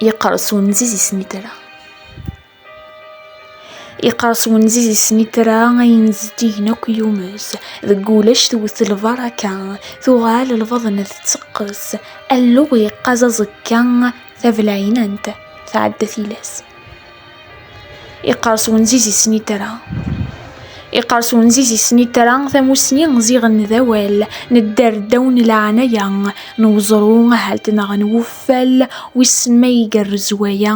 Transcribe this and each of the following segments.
Yeqres wenziz i snitra. Yeqres wenziz i snitra ayen zeddigen akk yumez deg ulac tewwet lbaraka tuɣal lbaḍna tetteqqes alluɣ yeqqaz aẓekka tabelɛinant tɛedda tilas. Iqers wenziz i snitra. Iqers wenziz i snitra tamusni ziɣen d awal nedder ddaw n leɛnaya n uẓru ahalt neɣ n wuffal wissen ma igerrez waya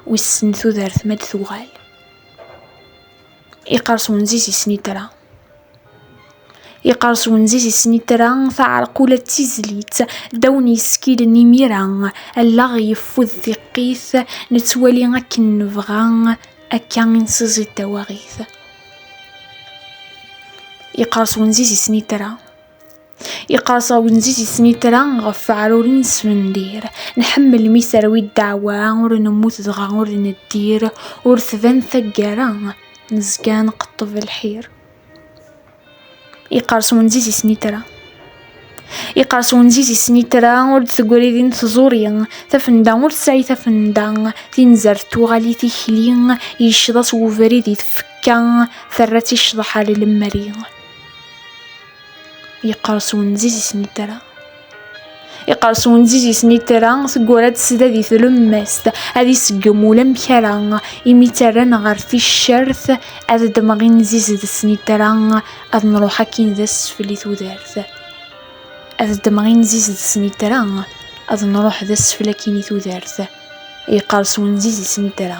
wissen tudert ma d-tuɣal. Iqers wenziz i snitra. Iqers wenziz i snitra, taɛerqula d tizlit, ddaw n yeskilen imira, allaɣ yeffud tiqqit, nettwali akken nebɣa, akka i nsiẓid tawaɣit. Iqers wenziz i snitra. Iqers awenziz i snitra ɣef weɛruren s wendir. Nḥemmel mi terwi ddeɛwa, ur nemmut dɣa ur neddir, ur tban taggara, nezga nqeṭṭeb lḥir. Iqers wenziz i snitra. Iqers wenziz i snitra, ur d-tegri din tẓuri, tafenda ur tesɛi tafenda, tinzert tuɣal i tikli, yecceḍ-as webrid i tfekka, terra-tt i ccḍeḥ ar lemri. Yeqqers wenziz i snitra. Iqers wenziz i snitra, teggura ad tesda di tlemmast, ad iseggem ulamek ara, imi ttarran ɣer ticcert, ad ddmeɣ inziz d snitra, ad nruḥ akkin d asfel i tudert. Ad ddmeɣ inziz d snitra, ad nruḥ d asfel akkin i tudert. Yeqqers wenziz i snitra.